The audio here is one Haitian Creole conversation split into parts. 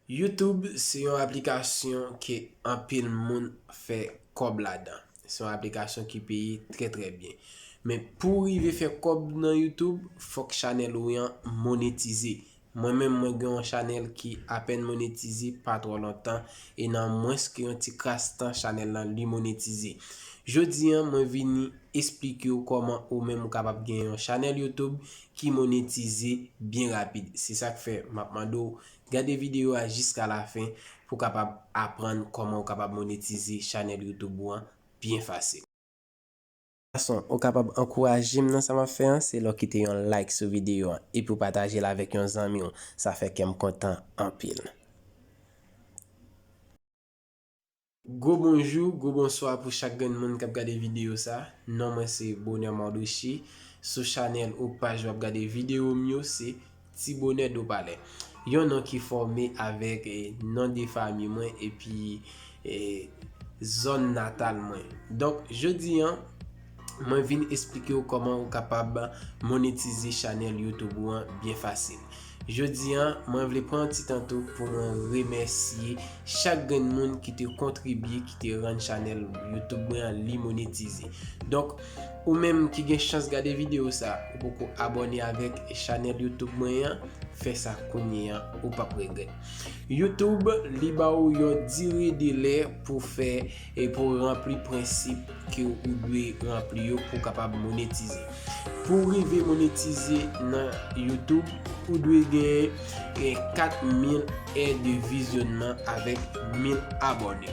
Youtube se yon aplikasyon ke anpil moun fè kòb ladan. Se yon aplikasyon ki peye trè trè byen. Men pou w rive fè kòb nan youtube, fòk chanèl ou an monetize. Mwen menm mwen gen yon chanèl ki apèn monetize pa twò lontan e nan mwens ke yon ti kras tan chanèl lan li monetize. Jodi an mwen vini esplike w kòman ou menm ou kapab gen yon chanèl youtube ki monetize byen rapid. Se sa k fè m ap mande w gade videyo a jiska lafen pou w kapab aprann kòman ou kapab monetize chanèl YouTube ou an byen fasil. Fason ou kapab ankouraje m nan sa m ap fè an se lè w kite yon like sou videyo an epi w pataje l avèk yon zanmi w. Sa fè kè m kontan anpil. Gwo bonjou, gwo bonswa pou chak grenn moun kap gade video sa, non mwen se Bonheur Mardochée, sou chanèl ou paj wap gade video m yo se Ti Bonheur Dopalè. Yon non ki fòme avèk non de fami mwen epi zòn natal mwen. Donk jodi an. Mwen vin esplike ou kòman ou kapab monetize chanèl YouTube ou an byen fasil. Jodi an, mwen vle pran yon ti tan tou pou mwen remèsye chak grenn moun ki te kontribye, ki te rann chanèl YouTube mwen an li monetize. Donk, ou menm ki gen chans gade videyo sa, ou poko abòne avèk chanèl YouTube mwen an, fè sa kounye an, ou pap regrèt. YouTube li ba ou yon dire delè pou fè E pou w ranpli prensip ke ou dwe ranpli yo pou w kapab monetize. Pou w rive monetize nan YouTube, ou dwe gen 4000 è de vizyonman avèk 1000 abòne.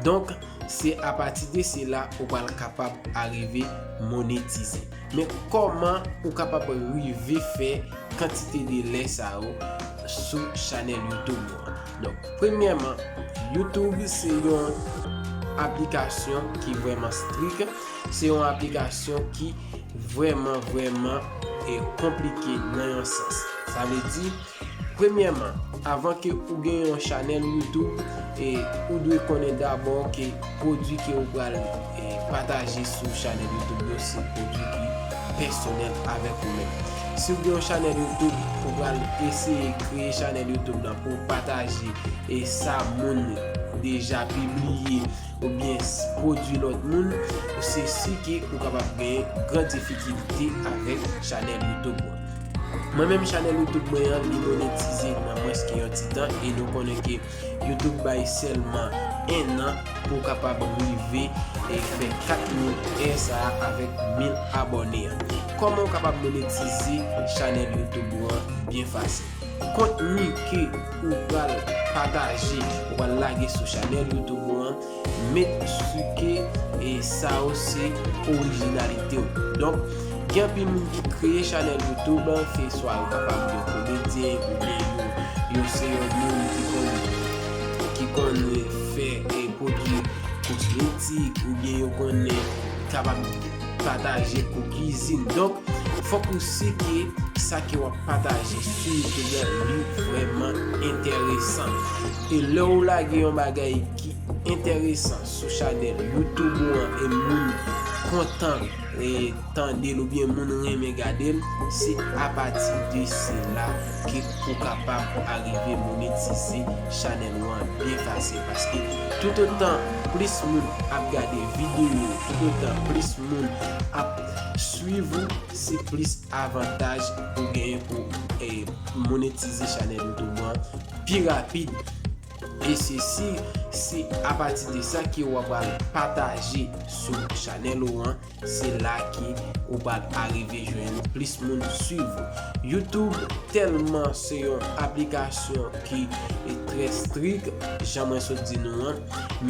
Donk, se apati de sila ou pral kapab arive monetize. Men kòman ou kapab rive fè kantite de lè sa yo sou chanèl YouTube ou an? Donk premyèman, YouTube se yon aplikasyon ki vrèman strik, se yon aplikasyon ki vrèman vrèman e konplike nan yon sans. Sa vle di, premyèman, avan ke ou gen yon chanèl YouTube, e ou dwe konnen dabò ke pwodwi ke ou pral. Pataje sou chanèl youtube yo se pwodwi ki pèsonèl avèk ou menm. Si w gen yon chanèl youtube, ou pral eseye kreye chanèl youtube lan pou w pataje e sa moun deja pibliye oubyen pwodwi lòt moun, se si ke ou kapab gen gran difikilte avèk chanèl youtube ou. Mwen menm chanèl youtube mwen an li monetize nan mwens ke yon ti tan e nou konnen ke. Yo te k bay sèlman 1 an pou w kapab rive e fè 4000 è sa a avèk 1000 abòne an. Kòman w kapab monetize chanèl YouTube ou an byen fasil. Kontni ke ou pral pataje, ou pral lage sou chanèl YouTube ou an, Met su ke e sa yo se orijinalite w. Donk, gen anpil moun ki kreye chanèl YouTube, se swa yo kapab yo komedyen oubyen yo yo se yon moun ki konn ki konn fè e pwodui kosmetik oubyen yo konn kapab pataje kou kizin. Donk, fòk ou si ke sa ke w ap pataje sou YouTube la li vrèman enteresan. E lè ou lage yon bagay ki enteresan sou chanel youtube ou an e moun kontan tandel ou byen moun renmen gadel se apati de sila ke ou kapab arive monetize chanel ou an byen fasil paske tout otan plis moun ap gade video ou tout otan plis moun ap swiv ou se plis avantaj ou genyen pou monetize chanel youtube ou an pi rapid. E se si se apati de sa ke ou apral pataje sou chanel ou an, se la ke ou pral arive jwenn plis moun swiv ou. Youtube telman se yon aplikasyon ki trè strik, jan mwen sot di nou an,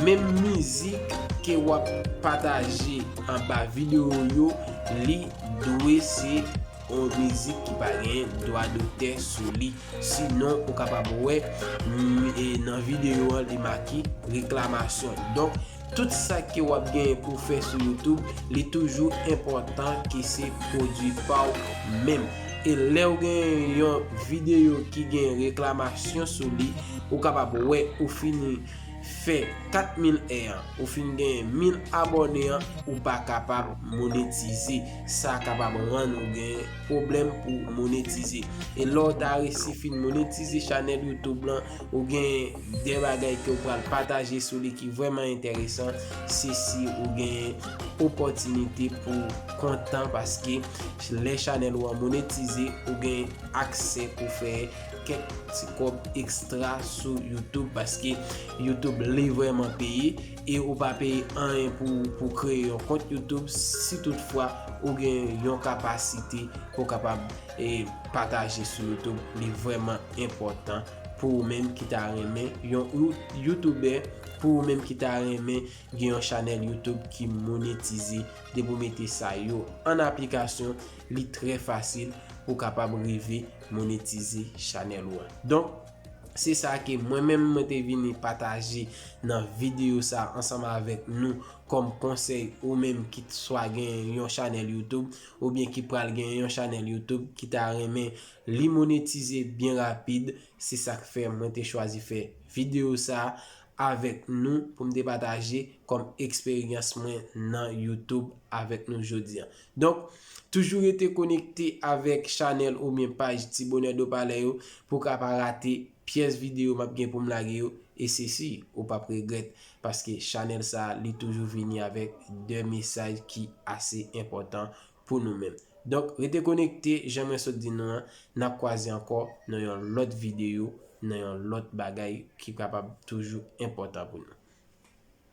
menm mizik ke ou ap pataje anba video ou yo, li dwe se. Yon mizik ki pa gen dwa dotè sou li. Si non ou kapab wè nan videyo an li make reklamasyon. Donk tout sa ke w ap gen pou fè sou YouTube li toujou enpòtan ke se pwodwi pa w menm. E lè w gen yon videyo ki gen reklamasyon sou li, ou kapab wè ou fini fè 4000 è an, ou fini gen 1000 abòne an, ou pa kapab monetize. Sa kapab rann ou gen pwoblèm pou monetize. E lè w ta resi fin monetize chanèl YouTube lan, ou gen de bagay ke w pral pataje sou li ki vrèman enteresan, se si ou gen opòtinite pou kontan paske lè chanèl ou an monetize, ou gen aksè pou fè kèk ti kòb ekstra sou YouTube paske YouTube li vrèman peye. E ou pa peye anyen pou kreye yon kont YouTube si tout fwa ou gen yon kapasite pou kapab pataje sou YouTube. Li vreman enpotan pou ou menm ki ta renmen yon YouTuber, pou ou menm ki ta renmen gen yon chanel YouTube ki monetize. Depi ou mete sa yo an aplikasyon, li tre fasil pou kapab rive monetize chanel ou an. Se sa ke mwen menm mwen te vini pataje nan video sa ansanm avèk nou kòm konsèy ou menm ki swa gen yon chanèl YouTube ou byen ki pral gen yon chanèl YouTube ki ta renmen li monetize byen rapid se sak fè mwen te chwazi fè video sa avèk nou pou m te pataje kòm eksperyans mwen nan YouTube avèk nou jodi an. Donk, toujou rete konekte avèk chanèl oubyen paj Ti Bonè Do Palè yo pou w ka pa rate pyès videyo m ap gen pou m lage yo e se si ou p ap regrèt paske chanèl sa a li toujou vini avèk de mesaj ki ase enpòtan pou nou menm. Donk, rete konekte jan mwen sot di nou an, n ap kwaze ankò nan yon lòt videyo, nan yon lòt bagay ki kapab toujou enpòtan pou nou.